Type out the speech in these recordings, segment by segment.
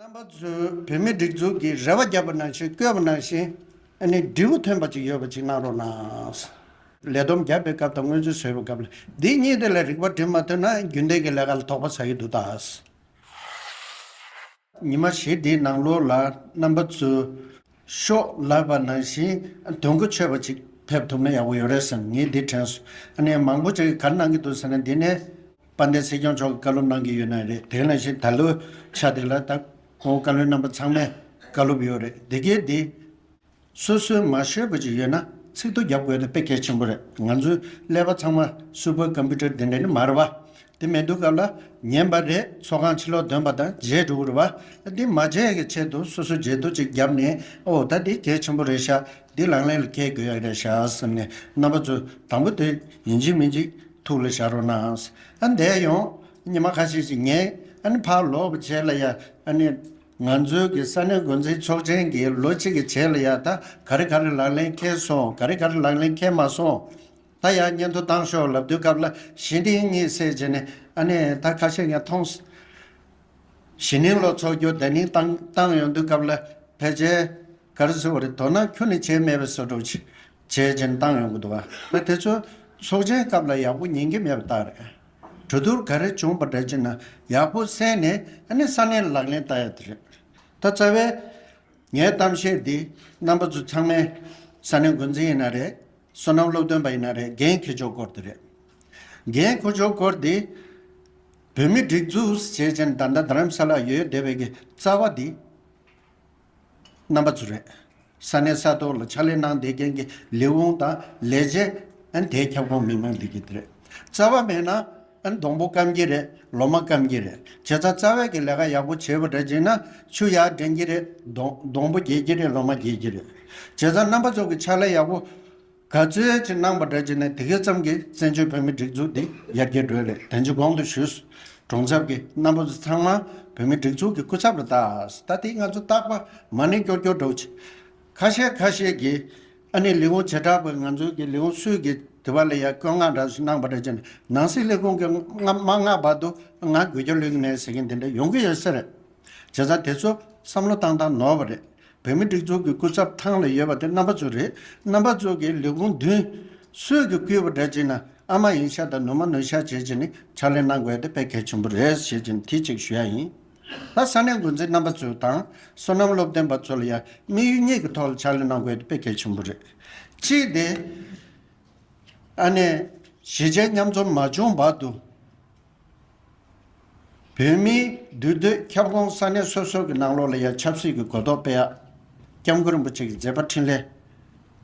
རྣམ་པ་ཚོས་བོད་མིའི་སྒྲིག་འཛུགས་ཀྱི་རེ་བ་བརྒྱབ་པ་ནང་བཞིན་བསྐོས་པ་ནང་བཞིན་ནས་འབྲས་བུ་ཐོན་པ་ཅིག་ཡོད་པ་ཅིག་གནང་རོགས་གནང། ལས་བསྡོམས་བརྒྱབ་པའི་སྐབས་དང་སྔོན་རྩིས་བཟོས་པའི་སྐབས་ལ་འདི་གཉིས་དེ་ལ་རིག་པ་བྲིས་མ་ཐོན་ན་རྒྱུན་ལྡན་གྱི་ལས་ཀ་ལ་དོགས་པ་ཟ་ཡི་འདུག་ད། ཉི་མ་བཞི་འདིའི་ནང་ལོགས་ལ་རྣམ་པ་ཚོས་ཤོག་ལབ་པ་ནང་བཞིན་དོན་གོ་ཆོད་པ་ཅིག་ཕེབས་ཐུབ་ན་ཡག་པོ་ཡོད་རེད་བསམ་ངས་འདི་དྲན་སོང་ཨ་ནེ་མང་པོ་ཅིག་ག་རེ་གནང་གི་འདུག་ཟེར་ན་འདི་ནས་དཔལ་ལྡན་སྲིད་སྐྱོང་མཆོག་གི་བཀའ་སློབ་གནང་གི་ཡོད་ན་རེད་དེ་ནང་བཞིན་ད་ལོའི་ཆ་དེ་ལ་ད་ཁོང་བཀའ་བློན་རྣམ་པ་ཚང་མས་བཀའ་སློབ་ཡོད་རེད་དེ་གའི་འདི་སོ་སོའི་མ་ཤོད་པ་ཅིག་ཡོད་ན་ཚིག་ཐོ་རྒྱབ་དགོས་ད་དཔེ་གལ་ཆེན་པོ་རེད་ང་ཚོའི་ཀླད་པ་ཚང་མ་སུ་པར་ཀམ་པུ་ཏར་དེ་འདྲ་ནི་མ་རེད་བ། དེ་མི་འདུག་སྐབས་ལ་ཉན་པ་རེད་ཚོགས་ཁང་ཕྱི་ལོགས་འདོན་པ་དང་རྗེས་འགྲོ་རུ་བ་འདི་མ་བརྗེད་ཀྱི་ཆེད་དུ་སོ་སོ་འཇལ་དུ་ཅིག་བརྒྱབ་ནས་ཨོ་ད་འདི་གལ་ཆེན་པོ་རེད་ཤག་འདི་ལག་ལེན་ལ་འཁེལ་དགོས་ཡག་རེད་ཤག་སེམས་ནས་རྣམ་པ་ཚོས་དང་པོ་དེ་ཡིན་གཅིག་མིན་གཅིག་ཐུགས་ལ་བཞག་རོགས་གནང། ཨ་འདས་ཡོང་ཉི་མ་ཁ་ཤས་ཤིག་ངས་ཨ་ནི་ཕར་ལོག་པ་བྱས་ལ་ཡ་ཨ་ནི། ང་ཚོའི་གི་ས་གནས་མགོ་འཛིན་ཚོགས་ཆེན་གྱི་ལོ་གཅིག་གི་བྱས་ལ་ཡ་ད་ག་རེ་ག་རེ་ལག་ལེན་འཁེལ་སོང་ག་རེ་ག་རེ་ལག་ལེན་འཁེལ་མ་སོང། ད་ཡང་སྙན་ཐོ་བཏང་ཤོག་ལབ་དུས་སྐབས་ལ་གཞི་འདིང་གཉིད་སད་རྗེས་ནས་ཨ་ནེ་ད་ཁ་ཤས་ཡང་མཐོང། གཞི་འདིང་ལོ་ཚོགས་རྒྱུ་བདེ་གླིང་བཏང་བཏང་ཡོང་དུས་སྐབས་ལ་ཕལ་ཆེར་ག་རེ་ཟེར་བ་རེད་དོ་ན་ཁྱོད་ནི་བྱས་མེད་པའི་ཟོལ་སྒྲོག་ཅིག་བྱས་རྗེས་ནས་བཏང་ཡོང་གི་འདུག་ཨ་དེ་ཚོ་ཚོགས་ཆེན་སྐབས་ལ་ཡག་པོ་ཉན་གྱི་མེད་པ་ལྟར་རེད། གྲོས་བསྡུར་ག་རེ་བྱུང་བ་འདྲ་ཅིག་ན་ཡག་པོ་གསན་ནས་ཨ་ནེ་ས་གནས་ལ་ལག་ལེན་བསྟར་ཡག་དེ་རེད། ད་རྩ་བའི་ངའི་གཏམ་བཤད་འདི་རྣམ་པ་ཚོ་ཚང་མའི་ས་གནས་འགོ་འཛིན་ཡིན་ན་རེད། བསོད་ནམས་སློབ་སྟོན་པ་ཡིན་ན་རེད་རྒན་ཁྱོད་ཆོས་སྐོར་དེ་རེད། རྒན་ཁོ་ཆོས་སྐོར་དེ། བོད་མི་སྒྲིག་འཛུགས་བྱས་ཅན་ད་ལྟ་དྷརམ་ས་ལ་ཡོད་བསྡད་པའི་གི་རྩ་བ་དེ། རྣམ་པ་ཚོ་རེད། ས་གནས་ས་ཐོག་ལ་ཕྱག་ལས་གནང་བསྡད་མཁན་གི་ལས་དབང་དང་ལས་བྱེད། དེའི་ཁྱབ་ཁོངས་མི་མང་དེ་གི་དེ་རེད། རྩ་བ་མེད་ན། སྡོང་པོ་སྐམ་གྱི་རེད་ལོ་མ་སྐམ་གྱི་རེད་བྱས་ཙང་རྩ་བས་ཀྱི་ལས་ཀ་ཡག་པོ་བྱས་པ་འདྲ་བྱས་ན་ཆུ་ཡག་འདྲེན་གྱི་རེད་སྡོང་པོ་རྒྱས་ཀྱི་རེད་ལོ་མ་རྒྱས་ཀྱི་རེད་བྱས་ཙང་རྣམ་པ་ཚོགས་ཀྱི་ཕྱག་ལས་ཡག་པོ་ག་ཚོད་ཅིག་གནང་པ་འདྲ་བྱས་ན་དེ་གས་ཙམ་གྱི་བཙན་བྱོལ་བོད་མི་སྒྲིག་འཛུགས་འདི་ཡར་རྒྱས་འགྲོ་ལེ་དོན་ཅི་གོང་དུ་ཞུས་གྲོང་ཚབ་ཀྱི་རྣམ་པ་ཚོ་ཚང་མ་བོད་མི་སྒྲིག་འཛུགས་ཀྱི་སྐུ་ཚབ་ལ་བཏགས་ད་དེ་ང་ཚོ་བཏགས་པ་མ་ནི་སྐྱོ་སྐྱོ་འགྲོ་ཆེ། ཁ་ཤས་ཁ་ཤས་ཀྱིས་ཨ་ནི་ལི་ཝང་བྱེ་བྲག་པས་ང་ཚོའི་གི་ལི་ཝང་སུའུ་གི་དེ་བ་ལ་ཡ་བསྐོད་མངགས་འདྲ་ཞིག་གནང་པ་རེད་ཅེས་ནང་སྲིད་ལས་ཁུངས་ཀྱི་མངགས་མངགས་བར་དུ་ང་དགོད་རྒྱུ་ལུས་ནས་ཟེར་མཁན་དེ་འདྲ་ཡོང་གི་ཡོད་ས་རེད། བྱས་ཙང་དེ་ཚོ་བསམ་བློ་བཏང་བཏང་ནོར་བ་རེད། བོད་མི་སྒྲིག་འཛུགས་ཀྱི་སྐུ་ཚབ་ཐང་ལ་ཡོད་པ་དེ་རྣམ་པ་ཚོ་རེད། རྣམ་པ་ཚོ་གི་ལི་ཝང་མདུན་སུའུ་གི་བསྐུལ་བ་འདྲ་བྱེད་ན་ཨ་མ་ཡིན་ཤག་དང་ནུ་མ་ནུ་ཤག་བྱེད་ཅེས་ནི་ཕྱག་ལས་གནང་དགོས་དེ་དཔེ་གལ་ཆེན་པོ་རེད་ཞེས་ཀྱི་ནི་དེ་གཅིག་ཞུ་ཡ་ཡིན། ལྷ་ས་ནས་འགོ་འཛིན་རྣམ་པ་ཚོ་དང་སོ་ནམ་སློབ་སྟོན་པ་ཚོ་ལ་ཡང་དམིགས་ཡུལ་གཉིས་ཀྱི་ཐོག་ལ་ཕྱག་ལས་གནང་དགོས་དེ་དཔེ་གལ་ཆེན་པོ་རེད། གཅིག་དེ། ཨ་ནེ། གཞིས་བྱེས་མཉམ་འཛོམས་མ་བྱུང་བར་དུ། བོད་མིའི་འདུས་སྡོད་ཁྱབ་ཁོངས་ས་གནས་སོ་སོ་གྱི་ནང་ལོགས་ལ་ཡང་ཆབ་སྲིད་ཀྱི་གོ་རྟོགས་སྤེལ་ཡག། ྋསྐྱབས་མགོན་རིན་པོ་ཆེ་གི་མཛད་པ་འཕྲིན་ལས།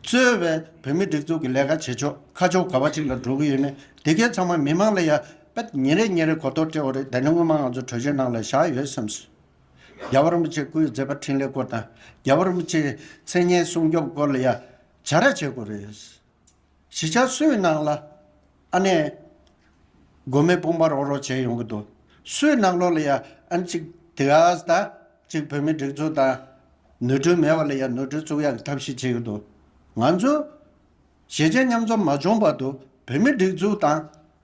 གཙོས་བའི་བོད་མིའི་སྒྲིག་འཛུགས་ཀྱི་ལས་ཀ་བྱེད་ཕྱོགས་ཁ་ཕྱོགས་ག་བ་ཅིག་ལ་འགྲོ་གི་ཡོད་མེད་དེ་གའི་ཚང་མ་མི་མང་ལ་ཡང་པད་ཉི་རེ་གཉིས་རེ་གོ་ལྟོ་སྤྲེའུ་རེ་དེ་ནས་སྔོན་མ་ང་ཚོ་གྲོས་ཆོད་ནང་ལ་བཞག་ཡོད་སེམས་སོ། རྒྱལ་བ་རིན་པོ་ཆེ་སྐུ་ཡི་མཛད་པ་འཕྲིན་ལས་སྐོར་དང་རྒྱལ་བ་རིན་པོ་ཆེའི་མཚན་སྙན་སྲུང་སྐྱོབ་སྐོར་ལ་ཡང་བྱ་ར་བྱེད་དགོས་རེད། གཞིས་ཆགས་སུའི་ནང་ལ་ཨ་ནེ། དགོན་མེ་སྤུངས་པ་རོགས་རོགས་བྱས་ཡོང་གི་འདུག་སུའི་ནང་ལོགས་ལ་ཡང་ཨ་ནེ་ཅིག་དེ་ག་ཟ་ཅིག་བོད་མི་སྒྲིག་འཛུགས་དང། ནོར་འཁྲུལ་མེད་པ་ལ་ཡང་ནོར་འཁྲུལ་བཙུགས་ཡག་གི་ཐབས་ཤེས་བྱེད་ཀྱི་འདུག་ང་ཚོ། གཞིས་བྱེས་མཉམ་འཛོམས་མ་བྱུང་བར་དུ་བོད་མི་སྒྲིག་འཛུགས་དང།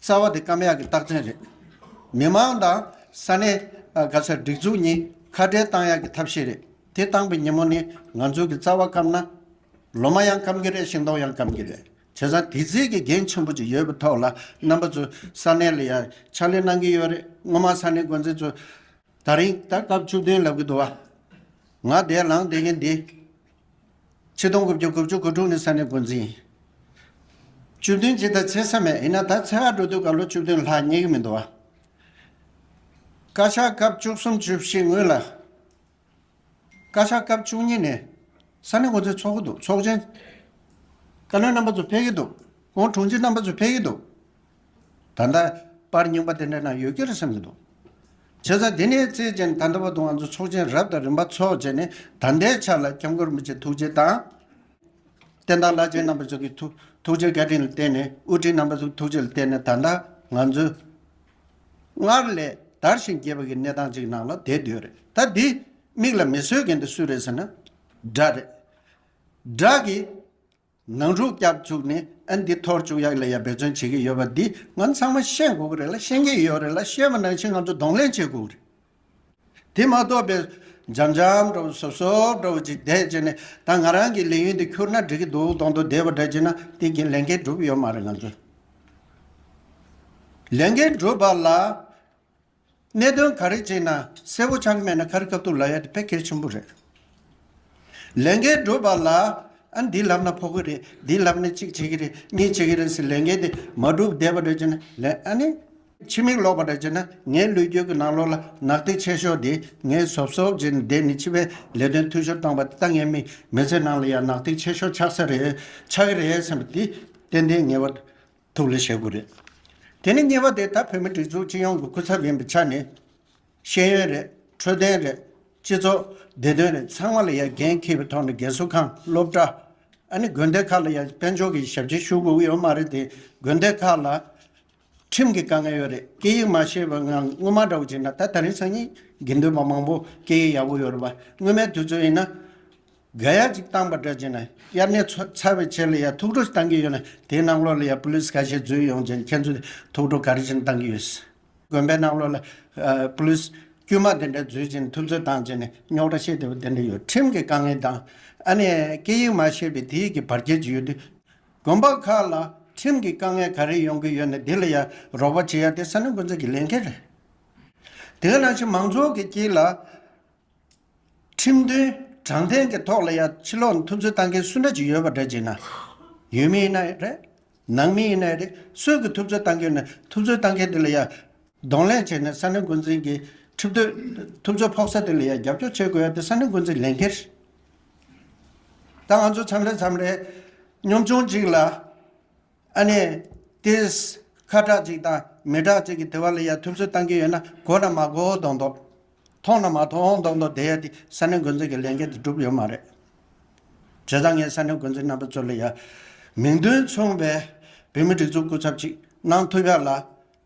རྩ་བ་དེ་ཀ་མ་ཡག་གི་རྟགས་མཚན་རེད། མི་དམངས་དང་ས་གནས་ཀ་ས་སྒྲིག་འཛུགས་གཉིས་ཁ་བྲལ་གཏང་ཡག་གི་ཐབས་ཤེས་རེད། དེ་བཏང་པའི་ཉིན་མོ་ནི་ང་ཚོ་གི་རྩ་བ་སྐམ་ན། ལོ་མ་ཡང་སྐམ་གི་རེད་ཤིང་སྡོང་ཡང་སྐམ་གི་རེད། བྱས་ཙང་དེ་རྩིས་ཀྱི་འགན་ཆེན་པོ་ཅིག་ཡོད་པའི་ཐོག་ལ་རྣམ་པ་ཚོས་ས་གནས་ལ་ཡང་ཕྱག་ལས་གནང་གི་ཡོད་རེད་སྔོན་མ་ས་གནས་འགོ་འཛིན་ཚོས། ད་རིང་ད་སྐབས་བཅུ་བདུན་ལབ་གི་འདུག་བ། ང་བདེ་ལངས་བདེ་གི་འདི། ཆིག་སྟོང་དགུ་བརྒྱ་དགུ་བཅུ་དགུ་དྲུག་ནི་ས་ནི་འགོ་འཛིན། བཅུ་བདུན་ཅི་ད་ཚེ་ས་མེད་ཡིན་ན་ད་ཚེ་ཨ་འགྲོ་དུས་སྐབས་ལོ་བཅུ་བདུན་ལྷག་རྙེད་ཀྱི་མི་འདུག་བ། བཀའ་ཤག་སྐབས་བཅུ་གསུམ་བཅུ་བཞི་ངོས་ལ། བཀའ་ཤག་སྐབས་བཅུ་གཉིས་ནས་ས་ནི་འགོ་འཛིན་ཚོགས་ཀྱི་འདུག་ཚོགས་ཆེན། བཀའ་བློན་རྣམ་པ་ཚོ་ཕེབས་ཀྱི་འདུག་ཁོང་དྲུང་ཆེ་རྣམ་པ་ཚོ་ཕེབས་ཀྱི་འདུག། ད་ལྟ་པར་རྙིང་པ་དེ་འདྲ་ན་ཡོད་ཀྱི་རེད་བསམ་གྱི་འདུག་བྱས་ཙང་དེ་ནས་བརྩེ་ཆེན་དང་འདྲ་པར་དུ་ང་ཚོ་ཚོགས་ཆེན་རབ་དང་རིམ་པ་ཚོགས་བྱས་ནས་ད་ལྟའི་ཆར་ལ་སྐྱབས་མགོན་རིན་པོ་ཆེ་ཐུགས་རྗེ་དང། བསྟན་དར་བླ་ཆེན་རྣམ་པ་ཚོ་གི་ཐུགས་རྗེ་བཀའ་དྲིན་ལ་བརྟེན་ནས་དབུ་ཁྲིད་རྣམ་པ་ཚོ་གི་ཐུགས་རྗེ་ལ་བརྟེན་ནས་ད་ལྟ་ང་ཚོས་སྔར་ལས་དར་ཞིང་རྒྱས་པ་གི་གནས་སྟངས་ཅིག་ནང་ལ་བསྡད་སྡོད་རེད་ད་འདི་མིག་ལ་མི་སོས་མཁན་དེ་སུ་རེད་ཟེར་ན་སྒྲ་རེད། སྒྲ་གི། ནང་འཁྲུག་རྒྱག་བཅུག་ནས་ཨ་འདི་ཐོར་བཅུག་ཡག་ལས་ཡག་འབད་བརྩོན་བྱེད་ཀྱི་ཡོད་པ་འདི་ང་ཚང་མ་ཤེས་དགོས་ཀྱི་རེད་ལ་ཤེས་ཀྱི་ཡོད་རེད་ལ་ཤེས་པ་ནང་བཞིན་ང་ཚོ་གདོང་ལེན་བྱེད་དགོས་ཀྱི་རེད། དེ་མ་གཏོགས་པའི་འཇམ་འཇམ་འདྲ་བོ་ཟོབ་ཟོབ་འདྲ་བོ་ཅིག་བསྡད་ཅེས་ནས་ད་ང་རང་གི་ལས་ཡུན་དེ་ཁྱུར་ན་འགྲིག་གི་འདུག་གདོང་དུ་བསྡད་པ་འདྲ་བྱས་ན་དེ་གིན་ལས་འགན་བསྒྲུབ་ཡོད་མ་རེད་ང་ཚོས། ལས་འགན་བསྒྲུབ་པ་ལ་གནད་དོན་ག་རེ་བྱས་ན་གསལ་བོ་ཆགས་མེད་ན་ཁ་རི་ཁབ་ཐུག་ལ་ཡ་དེ་ཕལ་ཁེལ་ཆེན་པོ་རེད། ལས་འགན་སྒྲུབ་པ་ལ་ཨ་འདི་ལབ་ན་ཕོག་གི་རེད་འདི་ལབ་ན་གཅིག་བྱེད་ཀྱི་རེད་གཉིས་བྱེད་ཀྱི་རེད་ཟེར་ལས་འགན་དེ་མ་སྒྲུབ་བསྡད་པ་འདྲ་བྱས་ན་ལས་ཨ་ནི། ཕྱི་མིག་ལོག་པ་འདྲ་བྱས་ན་ངའི་ལུས་རྒྱུད་ཀྱི་ནང་ལོག་ལ་ནག་ཐིག་ཆད་ཤོར་དེ་ངས་གཟོབ་གཟོབ་བྱས་ནས་བསྡད་ནས་ཕྱི་པའི་ལས་དོན་འཐུས་ཤོར་བཏང་པ་དེ་ད་ངའི་མི་མི་ཚེ་ནང་ལ་ཡང་ནག་ཐིག་ཆད་ཤོར་ཆགས་ས་རེད་ཆགས་ཀྱི་རེད་བསམ་པ་དེ་ཏན་ཏན་ངེས་པ་ཐུགས་ལ་བཞེད་དགོས་རེད། དེ་ནི་གཉིས་པ་དེ་ད་བོད་མི་སྒྲིག་འཛུགས་སྤྱི་ཡོངས་ཀྱི་སྐུ་ཚབ་ཡིན་པའི་ཆ་ནས། ཤེས་ཡོན་རེད་འཕྲོད་བསྟེན་རེད་སྤྱི་ཚོགས་བདེ་དོན་རེད་ཚང་མ་ལ་ཡང་འགན་འཁྱེར་བའི་ཐོག་ནས་རྒན་གསོ་ཁང་སློབ་གྲྭ། ཨ་ནི་དགོན་སྡེ་ཁག་ལ་ཡང་དཔལ་འབྱོར་གྱི་ཞབས་ཕྱི་ཞུ་དགོས་ཀྱི་ཡོད་མ་རེད་དེ་དགོན་སྡེ་ཁག་ལ་ཁྲིམས་ཀྱི་དཀའ་ངལ་ཡོད་རེད་སྐད་ཡིག་མ་ཤེས་པའི་ངང་དངུལ་མ་འདྲ་བོ་བྱས་ན་ད་ད་རིང་སང་ཉིན་དགེ་འདུན་པ་མང་པོ་སྐད་ཡིག་ཡག་པོ་ཡོད་རེད་བ་དངུལ་མའི་དུས་ཚོད་ཡིན་ན། འགལ་ཡ་ཅིག་བཏང་པ་འདྲ་བྱས་ན་དབྱར་གནས་ཚར་བའི་ཆེད་ལ་ཡ་ཐུགས་སྤྲོ་བཏང་གི་ཡོད་ན་དེའི་གནམ་ལོག་ལ་ཡ་པུ་ལིས་ཁ་ཤས་འཛུལ་ཡོང་རྗེས་ཁྱེད་ཚོས་ཐུགས་སྤྲོ་ག་རེ་བཞིན་བཏང་གི་ཡོད། དགོན་པའི་གནམ་ལོག་ལ་པུ་ལིས་དཀྱུས་མ་དེ་འདྲ་འཛུལ་རྗེས་ཐུགས་འཚོལ་བཏང་རྗེས་ནས་རྙོག་དྲ་ཤེས་བདེ་བོ་དེ་འདྲ་ཡོད་ཁྲིམས་ཀྱི་དཀའ་ངལ་དང། ཨ་ནེ། སྐད་ཡིག་མ་ཤེས་པའི་དེ་ཡིག་གི་བར་བརྒལ་གྱི་ཡོད་དུས། དགོན་པ་ཁག་ལ་ཁྲིམས་ཀྱི་དཀའ་ངལ་ག་རེ་ཡོང་གི་ཡོད་ན་དེ་ལ་ཡ་རོགས་པ་བྱེད་ཡ་དེ་ས་གནས་མགོ་འཛིན་གྱི་ལས་འགན་རེད། དེ་ག་ནང་བཞིན་མང་ཚོགས་ཀྱི་དཀྱིལ་ལ། ཁྲིམས་མཐུན་དྲང་བདེན་གྱི་ཐོག་ལ་ཡང་ཕྱི་ལོག་མཐུན་རྩོད་བཏང་མཁན་སུ་འདྲ་ཅིག་ཡོད་པ་འདྲ་ཅིག་ན། ཡུལ་མི་ཡིན་ན་ཡང་རེད། ནང་མི་ཡིན་ན་ཡང་རེད་སུས་ཀྱིས་ཐུབ་རྩོད་བཏང་མཁན་ནི་ཐུབ་རྩོད་བཏང་མཁན་དེ་ལ་ཡང། གདོང་ལེན་བྱས་ནས་ས་གནས་འགོ་འཛིན་གྱིས་ཁྲིམས་མཐུན་ཐུབ་རྩོད་ཕོག་ས་དེ་ལ་ཡང་རྒྱབ་སྐྱོར་བྱེད་དགོས་ཡ་དེ་ས་གནས་འགོ་འཛིན་ལས་འགན་རེད། ད་ང་ཚོ་མཚམས་རེ་མཚམས་རེ་གཉོམ་ཆུང་ཅིག་ལ། ཨ་ནེ། དེ། ཁ་གྲགས་ཅིག་དང་མི་གྲགས་ཅིག་གི་དེ་བ་ལ་ཡང་ཐུབ་རྩོད་བཏང་གིན་ཡོད་ན་གོ་དང་མ་གོ་འོ་དོག་འདོགས། མཐོང་དང་མ་མཐོང་མདོག་མདོག་བསྡད་ཡ་དེ་ས་གནས་འགོ་འཛིན་གྱི་ལས་འགན་དེ་འགྲུབ་ཡོད་མ་རེད། བྱས་ཙང་ངས་ས་གནས་འགོ་འཛིན་རྣམ་པ་ཚོ་ལ་ཡང་མིང་དོན་མཚུངས་པའི་བོད་མི་སྒྲིག་འཛུགས་སྐུ་ཚབ་ཅིག་གནང་ཐུབ་ཡག་ལ་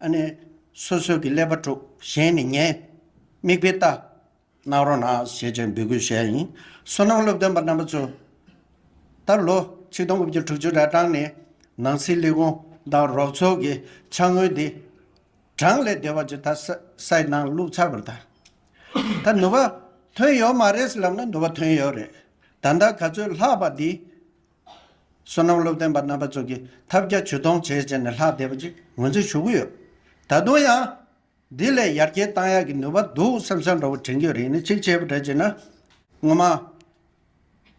ཨ་ནེ་སོ་སོས་ཀྱི་ཀླད་པ་དཀྲུག་གཞན་ནས་ཉན། མིག་དཔེ་ལྟ། གནང་རོགས་གནང་ཞེས་བཅས་འབོད་སྐུལ་བྱས་ཡིན། སོ་ནམ་སློབ་སྟོན་པ་རྣམ་པ་ཚོ། ད་ལོ་ཆིག་སྟོང་དགུ་བརྒྱ་དྲུག་ཅུ་ར་གྲངས་ནས་ནང་སྲིད་ལས་ཁུངས་དང་རོགས་ཚོགས་ཀྱི་ཕྱག་དངུལ་འདི། གྲངས་ལས་འདས་པ་ཇི་ལྟར་སའི་སྣང་བླུགས་ཚར་བར་ཐལ། ད་ནུ་བ་ཐོན་ཡོད་མ་རེད་ལབ་ན་ནུ་བ་ཐོན་ཡོད་རེད། ད་ལྟ་ག་ཚོད་ལྷག་པ་འདི། བསོད་ནམས་བློ་བརྟན་པ་རྣམ་པ་ཚོ་གིས་ཐབས་བརྒྱ་ཇུས་སྟོང་བྱས་བྱས་ནས་ལྷག་བསྡད་པ་ཅིག་ངོས་འཛིན་ཞུ་གི་ཡོད། ད་དུང་ཡང། འདི་ལས་ཡར་རྒྱས་གཏང་ཡག་གི་ནུ་བ་འདུག་བསམ་བསམ་འདྲ་བོ་དྲན་རྒྱུ་རེད་ནི་གཅིག་བྱས་པ་འདྲ་བྱས་ན། ངོ་མ།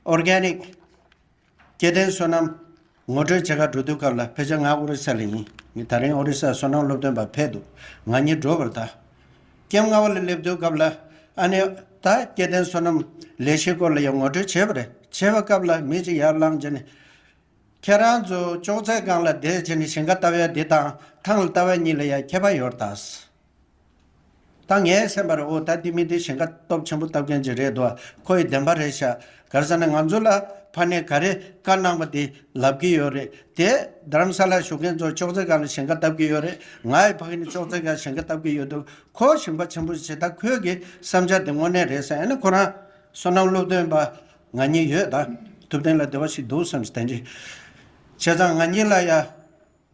Organic། སྐྱེ་ལྡན་སོ་ནམ། ངོ་སྤྲོད་བྱེད་སྐབས་འགྲོ་དུས་སྐབས་ལ་ཕེབས་ཆ་ང་ཨོ་རི་ས་ལ་ཡིན། ངས་ད་རིང་ཨོ་རི་སར་སོ་ནམ་སློབ་སྟོན་པར་ཕེབས་འདུག་ང་ཉིད་འགྲོ་བར་གདའ། སྐྱེམས་རྔ་བ་ལ་སླེབས་དུས་སྐབས་ལ། ཨ་ནེ། ད་སྐྱེ་ལྡན་སོ་ནམ། ལས་གཞིའི་སྐོར་ལ་ཡང་ངོ་སྤྲོད་བྱེད་པ་རེད། བྱེད་པ་སྐབས་ལ་མི་གཅིག་ཡར་ལངས་བྱས་ནས། ཁྱེད་རང་ཚོ་ཅོག་ཙེ་སྒང་ལ་བསྡད་བྱས་ནས་ཞིང་ཁ་ལྟ་བའི་འདི་དང་ཐང་ལ་ལྟ་བ་གཉིས་ལ་ཡང་ཁྱད་པར་ཡོད་རེད་དཱ། ད་ངས་སེམས་པར་ཨོ་ད་འདི་མི་འདི་ཞིང་ཁ་སྟོབས་ཆེན་པོ་བཏབ་མཁན་གྱི་རེད་འདུག་ཁོ་ཡི་བདེན་པ་རེད་ཤག་གར་ས་ནས་ང་ཚོ་ལ་ཕ་ནས་ག་རེ་བཀའ་གནང་པ་དེ་ལབ་ཀྱི་ཡོད་རེད་དེ། དྷརམ་ས་ལར་བཞུགས་མཁན་ཚོ་ཅོག་ཙེ་གང་ལ་ཞིང་ཁ་བཏབ་ཀྱི་ཡོད་རེད་ང་ཡི་ཕ་གི་ནི་ཅོག་ཙེ་གང་ཞིང་ཁ་བཏབ་ཀྱི་ཡོད་འདུག་ཁོ་ཞིང་པ་ཆེན་པོ་ཞིག་བྱེད་ད་ཁོས་གི་བསམ་འཆར་དེ་དངོས་གནས་རེད་ས་ཡ་ནི་ཁོ་རང་བསོད་ནམས་སློབ་སྟོན་པ་ང་གཉིས་ཡོད་ད་ཐུབ་བསྟན་ལ་བདེ་བ་ཞིག་འདུག་བསམ་ཞིང་བསྟན་རྗེས། བྱས་ཙང་ང་གཉིས་ལ་ཡ།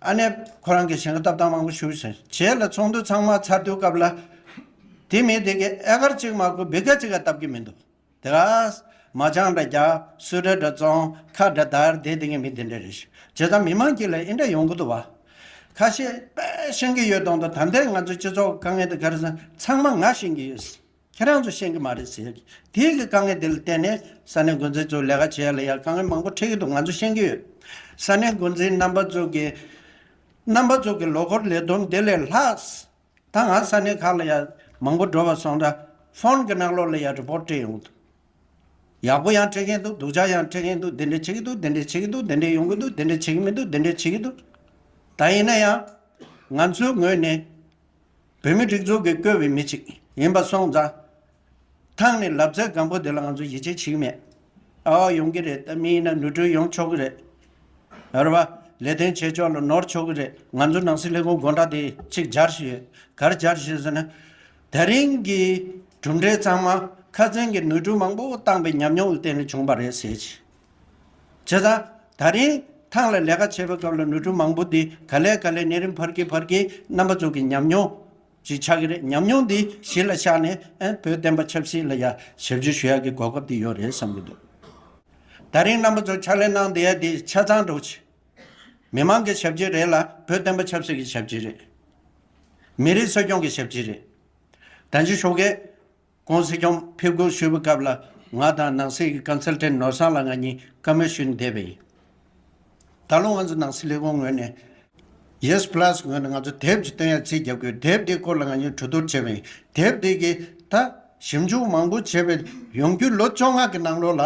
ཨ་ནེ། ཁོ་རང་གིས་བྱེད་འགོ་ཏབ་སྟངས་མང་པོ་ཞུ་བཞིན་བྱས་ལ་ཚོགས་འདུ་ཚང་མ་ཚར་དུས་སྐབས་ལ། དེ་མིན་དེ་གའི་ཨེ་ཀར་གཅིག་མ་གོ་བི་ཀ་ཅིག་ག་ཏབ་གི་མི་འདུག་དེ་ག། མ་ཅང་འདྲ་རྒྱ། སུ་འདྲ་འདྲ་ཙོང་ཁ་འདྲ་དར་དེ་དེ་གའི་མི་དེ་འདྲ་རེད། བྱས་ཙང་མི་མང་གིས་ལ་ཨེ་འདྲ་ཡོང་གི་འདུག་བ། ཁ་ཤས་པས་ཤེས་གི་ཡོད་དང་དུ་ད་ལྟའི་ང་ཚོའི་སྤྱི་ཚོགས་དཀའ་ངལ་དུ་གར་སོང་ཚང་མ་ང་ཤེས་གི་ཡོད། ཁྱེད་རང་ཚོ་ཤེས་ཀྱི་མ་རེད་ཟེར། དེའི་གི་དཀའ་ངལ་དེ་ལ་བརྟེན་ནས་ས་གནས་འགོ་འཛིན་ཚོས་ལས་ཀ་བྱས་ལ་ཡང་དཀའ་ངལ་མང་པོ་འཕྲད་ཀྱི་འདུག་ང་ཚོ་ཤེས་ཀྱི་ཡོད། ས་གནས་འགོ་འཛིན་རྣམ་པ་ཚོ་གི། རྣམ་པ་ཚོ་གི་ལོ་འཁོར་ལས་བསྡོམས་དེ་ལས་ལྷག། ད་ང་ས་གནས་ཁག་ལ་ཡང་མང་པོ་འགྲོ་བར་སོང་ད། ཕོན་གི་གནག་ལོག་ལ་ཡང Report སྤྲད་ཡོང་གི་འདུག། ཡག་པོ་ཡང་སྤྲད་མཁན་འདུག་སྡུག་ཅག་ཡང་སྤྲད་མཁན་འདུག་དེ་འདྲས་བྱེད་ཀྱི་འདུག་དེ་འདྲས་བྱེད་ཀྱི་འདུག་དེ་འདྲས་ཡོང་གི་འདུག་དེ་འདྲས་བྱེད་ཀྱི་མི་འདུག་དེ་འདྲས་བྱེད་ཀྱི་འདུག། ད་ཡིན་ན་ཡང། ང་ཚོའི་ངོས་ནས། བོད་མི་སྒྲིག་འཛུགས་ཀྱི་བཀོད་པའི་མི་ཅིག་ཡིན་པ་སོང་ཙང། ཐང་ནས་ལབ་ཙེ་སྒམ་པོ་དེ་ལ་ང་ཚོ་ཡིད་ཆེས་བྱེད་ཀྱི་མེད། ཨ་ཨོ་ཡོང་གི་རེད་ད་མི་ཡིན་ན་ནོར་འཁྲུལ་ཡོང་ཆོག་གི་རེད། རེད་པ། ལས་དོན་བྱེད་ཕྱོགས་ལ་ནོར་ཆོག་གི་རེད་ང་ཚོ་ནང་སྲིད་ལས་ཁུངས་དགོངས་དག་དེ་གཅིག་སྦྱར་བཞིན་ཡོད། གར་སྦྱར་བཞིན་ཟེར་ན། ད་རིང་གི་གྲུབ་འབྲས་ཚང་མ་ཁ་ཚོན་གྱི་ནོར་འཁྲུལ་མང་པོ་བཏང་པའི་ཉམས་མྱོང་གི་སྟེང་ནས་བྱུང་བ་རེད་ཟེར་གྱི་བྱས་ཙང། ད་རིང་ཐང་ལ་ལས་ཀ་བྱེད་པའི་སྐབས་ལ་ནུ་ཕྲུག་མང་པོ་འདིས་ག་ལས་ག་ལས་ནད་རིམས་འཕར་གི་འཕར་གི་རྣམ་པ་ཙོག་གི་ཉམས་མྱོང་ཞིག་ཆགས་ཀྱི་རེད་ཉམས་མྱོང་འདི་གཞི་ལ་བཞག་ནས་བོད་བསྟན་པ་ཆབ་སྲིད་ལ་ཡང་ཞབས་ཞུ་ཞུ་ཡག་གི་གོ་སྐབས་དེ་ཡོད་རེད་བསམ་གྱི་འདུག་ད་རིང་རྣམ་པ་ཙོག་ཕྱག་ལས་གནང་བསྡད་ཡ་དེ་ཆ་ཚང་འགྲོ་ཆེ། མི་མང་གི་ཞབས་ཀྱི་རེད་ལ་བོད་བསྟན་པ་ཆབ་སྲིད་ཀྱི་ཞབས་ཀྱི་རེད། མི་རིགས་སྲོལ་སྐྱོང་གི་ཞབས་ཀྱི་རེད། དྲ་འཇུ་ཤོག་གེ། ཀོང་སི་ཀྱོང་ཕེབས་སྒུག་ཞུས་པའི་སྐབས་ལ་ང་དང་ནང་སྲིད་ཀྱི Consultant ནོར་བཟང་ལགས་ང་གཉིས་བཀའ་མོལ་ཞུས་ནས་བསྡད་པ་ཡིན། ད་ལོ་ང་ཚོ་ནང་སྲིད་ལས་ཁུངས་ངོས་ནས། Yes Plus ངོས་ནས་ང་ཚོ་དེབ་ཅིག་བཏོན་ཡ་ཚིག་བརྒྱབ་དགོས་དེབ་དེའི་སྐོར་ལ་ང་གཉིས་གྲོས་བསྡུར་བྱས་པ་ཡིན། དེབ་དེ་གི་ད་ཞིབ་འཇུག་མང་པོ་བྱས་པའི་ཡོང་རྒྱུ་ལོ་བཅོ་ལྔ་གི་ནང་ལོ་ལ།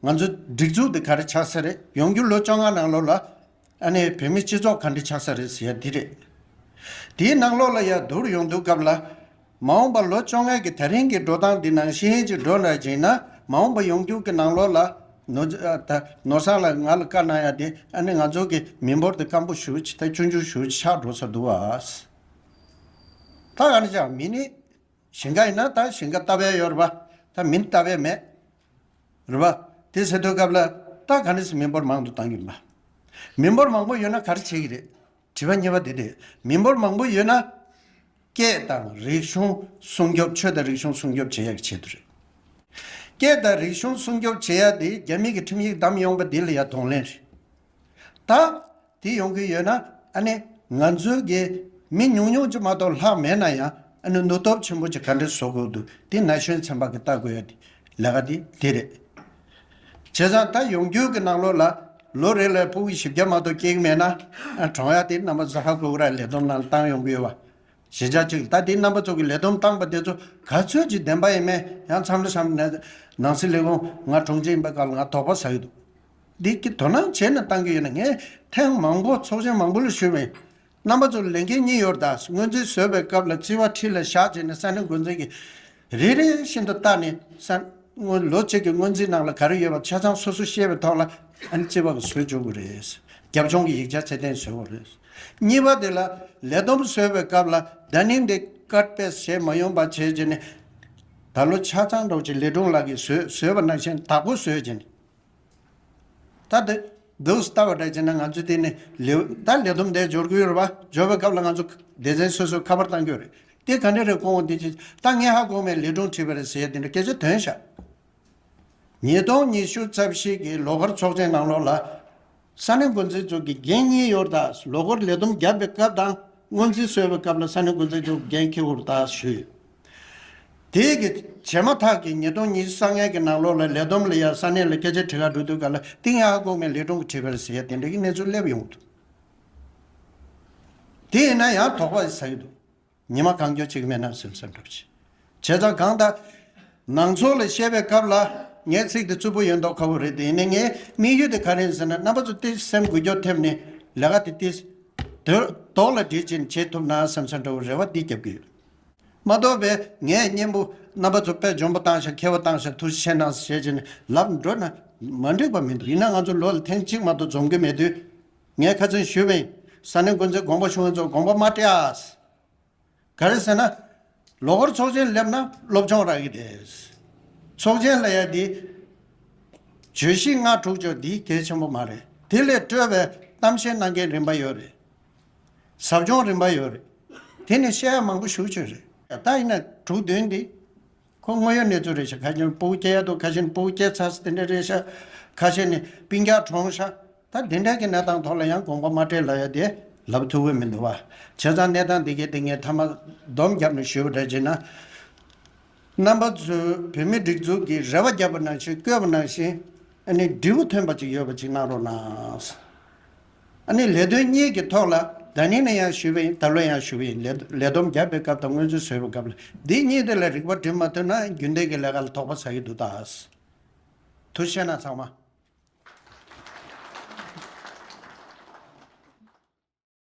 ང་ཚོ་སྒྲིག་འཛུགས་དེ་ག་རེ་ཆགས་ས་རེད་ཡོང་རྒྱུ་ལོ་བཅོ་ལྔ་ནང་ལོ་ལ། ཨ་ནེ་བོད་མི་སྤྱི་ཚོགས་ག་འདྲི་ཆགས་ས་རེད་ཟེར་ཡ་འདི་རེད། དེའི་ནང་ལོགས་ལ་ཡ་དུར་ཡོང་འདུག་སྐབས་ལ། མ་འོངས་པ་ལོ་བཅོ་ལྔའི་གི་ད་རིང་གི་འགྲོ་སྟངས་འདི་ནང་བཞིན་ཅིག་འགྲོ་ན་ཅིག་ན་མ་འོངས་པ་ཡོང་རྒྱུག་གི་ནང་ལོགས་ལ། ནོར། ད་ནོར་སང་ལ་ང་ལ་བཀའ་གནང་ཡ་དེ་ཨ་ནེ་ང་ཚོ་གི་མི་འབོར་དེ་སྐམ་པོ་ཞུ་ཅིག་ད་སྐྱོ་འགྱུར་ཞུ་ཅིག་ཆགས་འགྲོ་ས་འདུག་ཨ། ད་ག་ནི་ཅག་མི་ནི། ཞིང་ཁ་ཡིན་ན་ད་ཞིང་ཁ་ལྟ་བས་ཡོད་རེད་པ་ད་མི་ལྟ་བས་མེད། རེད་པ། དེ་ཟེར་དུས་སྐབས་ལ་སྟག་ག་ནས་སུ་མི་འབོར་མང་དུ་བཏང་གི་མ། མི་འབོར་མང་པོ་ཡོད་ན་ག་རེ་བྱེད་ཀྱི་རེད། དྲི་བ་གཉིས་པ་དེ་རེད། མི་འབོར་མང་པོ་ཡོད་ན། སྐད་དང་རིག་གཞུང་སྲུང་སྐྱོབ་ཆོས་དང་རིག་གཞུང་སྲུང་སྐྱོབ་བྱེད་ཡག་གི་ཆེད་དུ་རེད། སྐད་དང་རིག་གཞུང་སྲུང་སྐྱོབ་བྱེད་ཡག་དེ་རྒྱ་མིག་གི་ཁྲིམས་ཡིག་བདམས་ཡོང་པ་དེ་ལ་ཡ་གདོང་ལེན་རེད། ད། དེ་ཡོང་གི་ཡོད་ན་ཨ་ནི་ང་ཚོའི་དགེ། མི་ཉུང་ཉུང་ཅིག་མ་གཏོགས་ལྷག་མེད་ན་ཡང་ཨ་ནི་ནུ་སྟོབས་ཆེན་པོ་ཅིག་ག་འདྲེ་བཟོ་དགོས་འདུག་དེ་ན་གཞོན་ཚན་པ་གི་བལྟ་དགོས་ཡ་དེ་ལས་ཀ་དེ་དེ་རེད། བྱས་ཙང་ད་ཡོང་རྒྱུ་གི་ནང་ལོགས་ལ་ལོ་རེ་ལ་པུའུ་བཞི་བརྒྱ་མ་གཏོགས་སྐྱེལ་གི་མེད་ན་ཨ་གྲོང་ཡ་དེ་རྣམ་པ་ཟ་ཧ་གོ་གི་ར་ལས་བསྡོམས་ནང་བཏང་ཡོང་གི་ཡོད་བ། གཞི་ཆགས་ཅིག་ད་དེ་རྣམ་པ་ཚོ་གི་ལས་བསྡོམས་བཏང་པ་དེ་ཚོ་ག་ཚོད་ཅིག་བདེན་པ་ཡིན་མེད་ཡང་འཚམས་འདྲི་བསམ་ནས་ནང་སྲིད་ལས་ཁུངས་ང་གྲོང་སྤྱི་ཡིན་པའི་སྐབས་ལ་ང་དོགས་པ་ཟ་གི་འདུག་འདི་སྐད་དོ་སྣང་བྱས་ནས་བཏང་གི་ཡོད་ན་ངས་ཐེངས་མང་པོ་ཚོགས་ཆེན་མང་པོ་ལ་ཞུས་མོད། རྣམ་པ་ཚོར་ལས་འགན་གཉིས་ཡོད་དཱ་དངོས་འཛིན་བཟོས་པའི་སྐབས་ལ་རྩིས་བ་ཁྲི་ལ་བཞག་རྗེས་ནས་ས་གནས་འགོ་འཛིན་གྱིས་རེ་རེ་བཞིན་དུ་བརྟག་ནས་ས་དངུལ་ལོ་གཅིག་གི་དངོས་འཛིན་ནང་ལ་ག་རེ་ཡོད་པ་ཆ་ཚང་སོ་སོ་ཤེས་པའི་ཐོག་ལ་རྩིས་བ་བཟོས་བཅུག་གི་རེད། རྒྱབ་ལྗོངས་ཀྱི་ཡིག་ཆ་ཚད་ལྡན་བཟོས་བ་རེད། གཉིས་པ་དེ་ལ་ལས་བསྡོམས་བཟོས་པའི་སྐབས་ལ་ད་ནི་འདི་ཀར་པེས་བྱས་མ་ཡོང་པ་བྱས་རྗེས་ནས། ད་ལོ་ཆ་ཚང་སྒྲོག་ཅིག་ལེ་སྒྲུང་ལགས་ཀྱིས་བཟོས་བཟོས་པ་ནང་བཞིན་དག་པོ་བཟོས་རྗེས་ནས། ད་དེ་འདི་ལྟ་བ་འདྲ་བྱས་ན་ང་ཚོས་དེ་ནི་ལེའུ་ད་ལེ་དུམ་བརྡའི་སྦྱོར་གུའི་རོལ་པ་སྦྱོར་བའི་སྐབས་ལ་ང་ཚོ་སྡེ་ཚན་སོ་སོས་ཁ་པར་བཏང་རྒྱུ་རེད། དེ་ག་འདྲ་རེད་གོང་འོག་འདི་ཅི་ད་ངས་ཧ་གོ་མའི་ལས་སྒྲུང་བྲིས་པ་རེད་ཟེར་དེ་འདྲ་སྐད་ཆ་དོན་བཞག། ཉིས་སྟོང་ཉི་ཤུ་རྩ་བཞི་གི་ལོ་འཁོར་ཚོགས་ཆེན་ནང་ལོགས་ལ། ས་གནས་འགོ་འཛིན་ཚོགས་ཀྱི་འགན་གཉིས་ཡོར་དག་ལོ་འཁོར་ལས་བསྡོམས་བརྒྱབ་པའི་སྐབས་དང་སྔོན་རྩིས་གསོལ་བའི་སྐབས་ལ་ས་གནས་འགོ་འཛིན་ཚོགས་ཀྱི་འགན་འཁྱེར་ཧུར་ཐག་ཞུས་ཡོད། དེ་གི་བྱས་མ་ཐག་གི་ཉིས་སྟོང་ཉིས་བརྒྱ་ལྔའི་གི་ནང་ལོར་ལ་ལས་བསྡོམས་ལ་ཡང་ས་གནས་ལ་སྐད་ཆ་དྲི་ག་འདྲུ་འདུག་ག་ལ་ཏིང་ཡ་ཀོང་མའི་ལས་དྲུང་གི་དྲི་ག་ལ་ཟེར་ཡ་དེ་འདྲ་གི་གནས་ཚུལ་སླེབས་ཡོང་གི་འདུག་དེ་ཡིན་ན་ཡང་དོགས་པ་ཟ་གི་འདུག། ཉི་མ་གང་འགྱོ་གཅིག་མེད་ན་ཟིམ་ཟིམ་འགྲོ་ཅི་བྱེད་ཙང་གང་ལྟ། ནང་ཚོགས་ལ་བཤད་པའི་སྐབས་ལ་ངའི་ཚིག་དེ་རྩུབ་པོ་ཡོད་མདོག་ཁ་བོ་རེད་དེ་ནི་ངའི་དམིགས་ཡུལ་དེ་ག་རེད་ཟེར་ན་རྣམ་པ་ཚོ་བསྟི་སེམས་འགུལ་སྐྱོར་ཐེབས་ནས་ལས་ཀ་དེ་བསྟི། དོགས་ལ་འདྲིས་ཅན་བྱེད་ཐུབ་ན་ཟིམ་ཟིམ་འགྲོ་བའི་རེ་བ་འདི་རྒྱབ་ཀྱི་ཡོད། མ་རྟོགས་པའི་ངའི་གཉེན་པོ་རྣམ་པ་ཚོ་པད་འཇོམས་པོ་བཏང་ཤག་མཁས་པོ་བཏང་ཤག་ཐུགས་ཆེ་གནང་ཟེར་བྱེད་ཅིང་ལབ་འགྲོ་ན་མ་འགྲིག་པ་མི་འདུག་ཡིན་ན་ང་ཚོ་ལོ་ལ་ཐེངས་གཅིག་མ་གཏོགས་འཛོམས་ཀྱི་མེད་དུས། ངས་ཁ་ཚོན་ཞུས་པའི་ས་གནས་འགོ་འཛིན་དགོངས་པ་ཞུ་མཁན་ཚོར་དགོངས་པ་མ་སྤྲད། ག་རེ་ཟེར་ན། ལོ་འཁོར་ཚོགས་ཆེན་སླེབས་ན་སློབ་སྦྱོང་རག་གི་རེད། ཚོགས་ཆེན་ལ་ཡ་དེ། བརྗོད་གཞི་ལྔ་དྲུག་བརྗོད་འདི་གལ་ཆེན་པོ་མ་རེད་དེ་ལས་སྤྲོས་པའི་གཏམ་བཤད་གནང་མཁན་རིམ་པ་ཡོད་རེད། ཟབ་སྦྱོང་རིམ་པ་ཡོད་རེད། དེ་ནི་བཤད་ཡ་མང་པོ་ཞུ་ཆོད་རེད། ད་ཡིན་ན་དྲུག་བདུན་འདི། ཁོ་དངོས་ཡོད་གནས་ཚུལ་རེད་ཤག་ཁ་ཤས་ནི་སྤོ་བོ་སྐྱེ་ཡ་དུ་ཁ་ཤས་ནི་སྤོ་བོ་སྐྱེ་ཚ་ས་དེ་འདྲ་རེད་ཤག་ཁ་ཤས་ནི་པིང་རྒྱ་གྲོངས་ཤག་ད་དེ་འདྲ་གི་གནས་སྟངས་ཐོག་ལ་ཡང་དགོངས་པ་མ་སྤྲད་ལ་ཡ་དེ་ལབ་ཐུབ་འོས་མི་འདུག་བ། བྱས་ཙང་གནས་སྟངས་འདི་གའི་སྟེང་ངས་ཐ་མ་སྡོམ་རྒྱབ་ནས་ཞུས་པ་འདྲ་བྱས་ན། རྣམ་པ་ཚོས་བོད་མི་སྒྲིག་འཛུགས་ཀྱི་རེ་བ་བརྒྱབ་པ་ནང་བཞིན་བསྐོས་པ་ནང་བཞིན། ཨ་ནི་འབྲས་བུ་ཐོན་པ་ཅིག་ཡོད་པ་ཅིག་གནང་རོགས་གནང། ཨ་ནི་ལས་དོན་གཉིས་ཀྱི་ཐོག་ལ་ད་ནི་ནས་ཡང་ཞུས་པ་ཡིན་ད་ལོ་ཡང་ཞུས་པ་ཡིན་ལས་ལས་བསྡོམས་རྒྱབ་པའི་སྐབས་དང་སྔོན་ཚུན་བཟོས་པའི་སྐབས་ལ་འདི་གཉིས་དེ་ལ་རིག་པ་བསྒྲིམས་མ་ཐུབ་ན་རྒྱུན་ལྡན་གྱི་ལས་ཀ་ལ་དོགས་པ་ཟ་ཡི་འདུག་དྭགས་དུ་བཤད་ན་ཚང་མ།